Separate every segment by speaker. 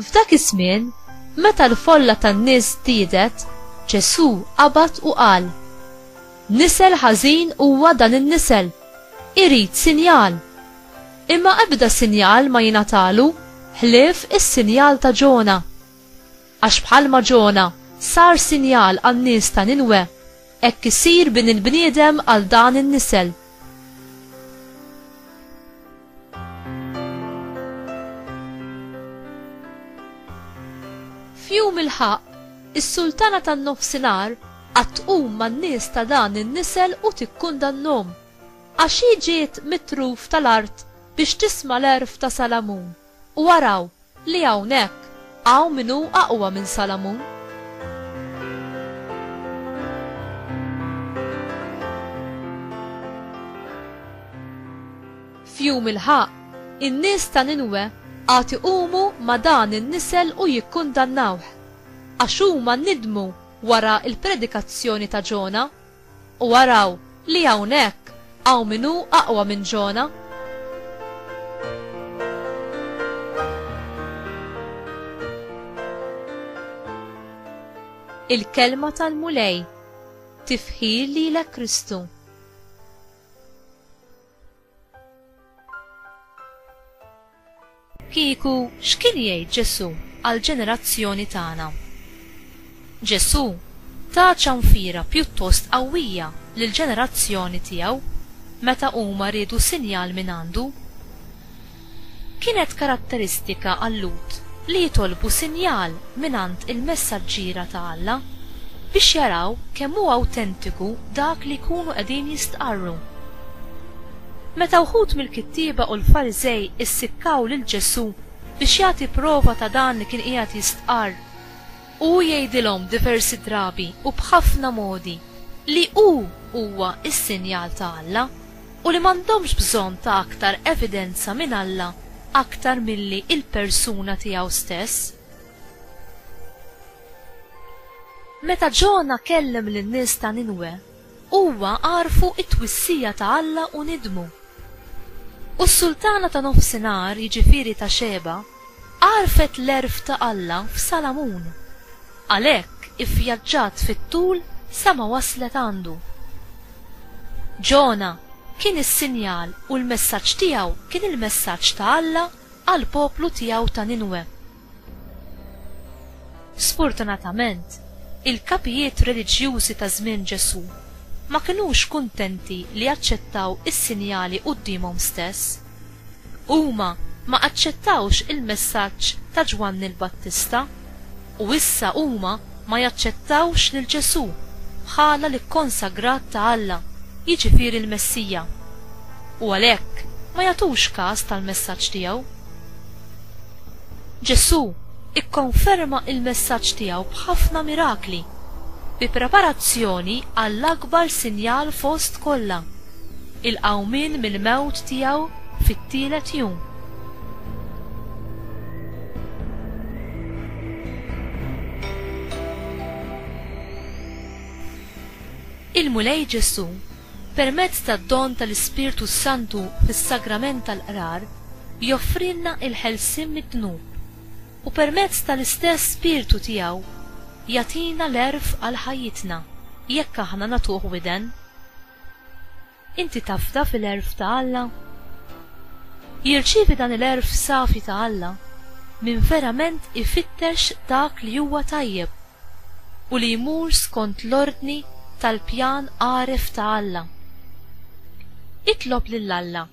Speaker 1: F'dak iż-żmien, meta l-folla tan-nies żdiedet, Ġesù qabad u qal, Nisel ħażin huwa dan in-nisel! Irid sinjal! Imma ebda sinjal ma jingħatalu ħlief is-sinjal ta' Ġona. Għax bħalma Ġona sar sinjal għan-nies ta' Ninwe, hekk isir Bin il-bniedem għal dan in-nisel. F'jum il-ħaqq, is-sultana tan-nofsinhar għad tqum man-nies ta' dan in-nisel u tikkundannhom, għax hi ġiet mit-truf tal-art biex tisma' l-għerf ta' Salamun, u araw, Li hawnhekk hawn min hu aqwa minn Salamun. F'jum il-ħaqq, in-nies ta' Ninwe għad iqumu ma' dan in-nisel u jikkundannawh, għax huma nidmu wara l-predikazzjoni ta' Ġona. U araw li hawnhekk hawn min hu aqwa minn Ġona. Il-Kelma tal-Mulej. Tifħir lilek Kristu. Kieku x'kien jgħid Ġesù għall-ġenerazzjoni tagħna? Ġesù ta ċanfira pjuttost qawwija lill-ġenerazzjoni tiegħu meta huma riedu sinjal mingħandu. Kienet karatteristika għal-Lhud li jitolbu sinjal mingħand il-messaġġiera ta' Alla biex jaraw kemm hu awtentiku dak li jkunu qegħdin jistqarru. Meta wħud mill-kittieba u l-Fariżej issikkaw lil Ġesù biex jagħti prova ta' dan li kien qiegħed jistqarr, hu jgħidilhom diversi drabi u b'ħafna modi li hu huwa s-sinjal ta' Alla u li m'għandhomx bżonn ta' aktar evidenza minn Alla aktar milli l-persuna tiegħu stess. Meta Ġona kellem lin-nies ta' Ninwe, Huwa għarfu t-twissija ta' Alla u nidmu. U s-sultana ta' nofsinhar, jiġifieri ta' Xeba, għarfet l-għerf ta' Alla f'Salamun. Għalhekk ivvjaġġat fit-tul sa ma waslet għandu. Ġona kien is-sinjal u l-messaġġ tiegħu kien il-messaġġ ta' Alla għall-poplu tiegħu ta' Ninwe. Sfortunatament, il-kapijiet reliġjużi ta' żmien Ġesù ma kinux kuntenti li jaċċettaw is-sinjali quddiemhom stess. Huma ma aċċettawx il-messaġġ ta' Ġwanni l-Battista, u issa huma ma jaċċettawx lil Ġesù bħala l-ikkonsagrat ta' Alla, jiġifieri l-Messija, u għalhekk ma jagħtux kas tal-messaġġ tiegħu. Ġesù ikkonferma l-messaġġ tiegħu b'ħafna mirakli, bi preparazzjoni għall-akbar sinjal fost kollha, il-qawmien mill-mewt tiegħu fit-tielet jum. Il-Mulej Ġesù Permezz tad-don tal-Ispirtu s-Santu fis-Sagrament tal-Qrar, joffrilna l-ħelsien mid-dnub, u permezz tal-istess Spirtu tiegħu jagħtina l-għerf għal ħajjitna, jekk aħna nagħtuh widen. Inti tafda fil-għerf ta' Alla? Jirċievi dan il-għerf safi ta' Alla min verament ifittex dak li huwa tajjeb. u li jmur skont l-ordni tal-pjan għaref ta' Alla. Itlob lil Alla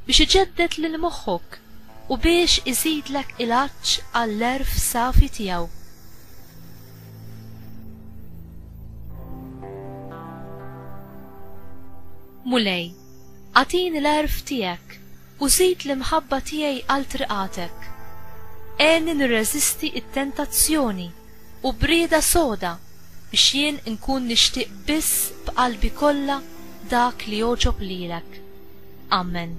Speaker 1: biex iġedded lil moħħok u biex iżidlek il-għatx għall-għerf safi tiegħu. Mulej. Agħtini l-għerf tiegħek u żid l-imħabba tiegħi għal triqatek. Għenni nirreżisti t-tentazzjoni u brieda soda biex jien inkun nixtieq biss b'qalbi kollha dak li jogħġob lilek. Amen.